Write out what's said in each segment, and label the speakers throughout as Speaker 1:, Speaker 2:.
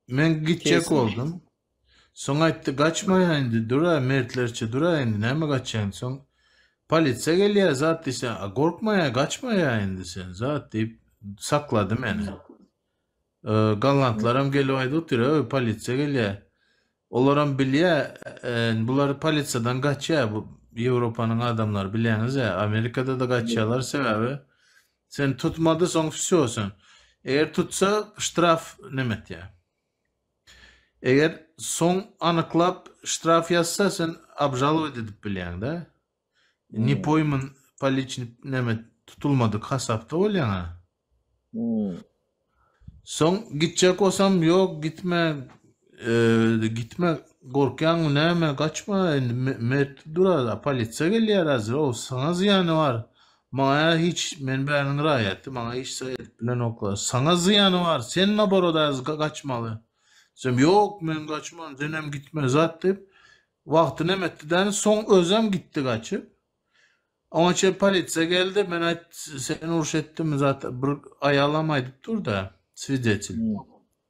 Speaker 1: Men gitjek Kesin. boldum. Soň aýtdy, Gaçmaýa indi, dur-a, mertlerçe dur-a indi, näme gaçýaň? Soň polisiýa gelýä, zat diýse, a gorkmaýa, gaçmaýa indi sen, zat diýip, saklady meni. Ö, gollandlaram gelip aýdyp otyr, Ö, polisiýa gelýä. Olaram bilýä, e, bular polisiýadan gaçýa, bu Ýewropanyň adamlary bilýäňiz-ä, Amerikada-da gaçýalar, sebäbi Sen tutmady soň vsё sen eger tutsa ştraf neme etýä. Eger soň anyklap ştraf ýazsa sen obžalowat edip bilýäňdä. Ne poýman
Speaker 2: poliçnik
Speaker 1: neme tutulmadyk hasapda bolýaňa. Soň gitjek bolsam ýok gitme gitme gorkýaňmy näme gaçma indi mert durar a polisiýa gelýär hazir o saňa zyýany bar maňa hiç men bäniň raýaty maňa hiç zat edip bilenoklar saňa zyýany bar sen naborodaz gaçmaly diýsem ýok men gaçman senem gitme zat diýip wagty nemetdi däni soň özem gitdi gaçyp. Oňa çen polisiýa geldi. Men aýt, sen uruş etdiňmi zat? Bir aýalam aýdyp dur-da, swidetil.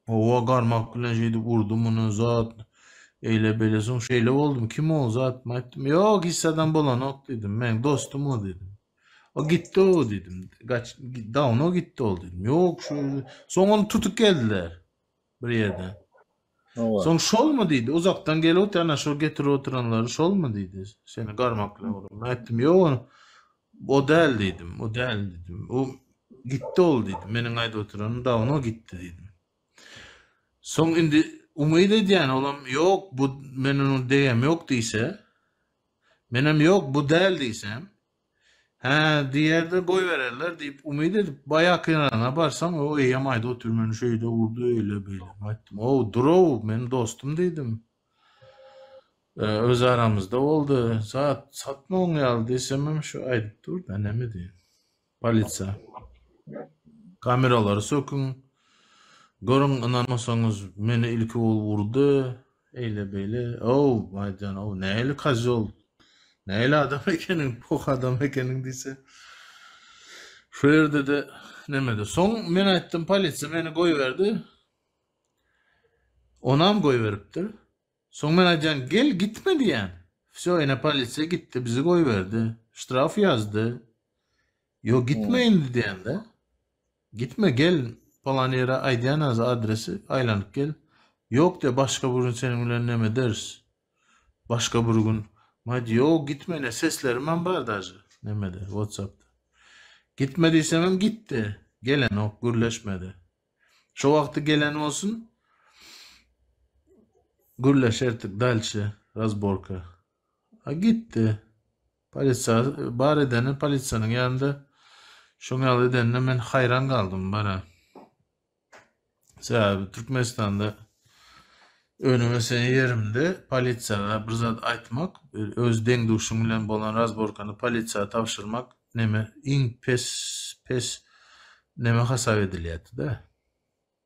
Speaker 2: Owa, garmak
Speaker 1: bilen şeýdip urdy muny zat. Eýle bele soň şeýle boldum. Kim o zat? Men aýtdym, ýok, hiç zadam bolanok diýdim. Meň dostum o diýdim. O gitdi o diýdim. Gaç, dawno gitdi ol diýdim. Ýok, şu soň ony tutup geldiler. bir ýerde. Hawa. Soň şolmy
Speaker 2: diýdi,
Speaker 1: uzakdan gelip otyr, ana şo getirip oturanlary şolmy diýdi, seni garmakla urup. Men aýtdym, ýok ony, o däl diýdim, o däl diýdim. O gitdi ol diýdim, meniň aýdyp oturan dawno gitdi diýdim. Soň indi umyt edýän olam ýok, bu men onuň degem ýok diýse, menem ýok, bu däl diýsem, Hä, diýer-de goýbererler diýip umyt edip, baýaky ýanyna barsaň, o eýýäm aýda otyr, meni şu öýde urdy, öýle-beýle. Aýtdym, Ow, dur-ow, meniň dostum diýdim. Öz aramyzda boldy. Zat satmagyň ýaly diýsemem, şu aýdyp dur-da, näme diýiň. Polisiýa. Kameralary söküň. Görüň, ynanmasaňyz, meni ilki ol urdy. Eýle beýle ow Baýjan ow näli kazol näli adam ekeniň poh adam ekeniň diýse şu ýerdede nemede soň men aýtdym polisiýa meni goýberdi onam goýberipdir soň men aýdýan gel gitme diýýän wsýo ine polisiýa gitdi bizi goýberdi ştraf ýazdy ýok gitme indi
Speaker 2: diýende
Speaker 1: Gitme gel palan ýere aýdýanaz adresi aýlanyp gel ýok de başga bir gün seniň bilen nemederis başga bir gün maýdy ýok gitme ine seslerimem bar daže nemede watsapda gitme diýsemem gitdi gelenok gürleşmede şo wagty gelen bolsun gürleşerdik dalşe razborka a gitdi Polisiýa bar edeni polisiýanyň ýanynda şoň ýaly edenine men haýran galdym bara. Sebäbi Türkmenistanda önüm ösen ýerimde polisiýa bir zat aýtmak, öz deň-duşuň bilen bolan razborkany polisiýa tabşyrmak neme iň pes pes neme hasap edilýärdi-de.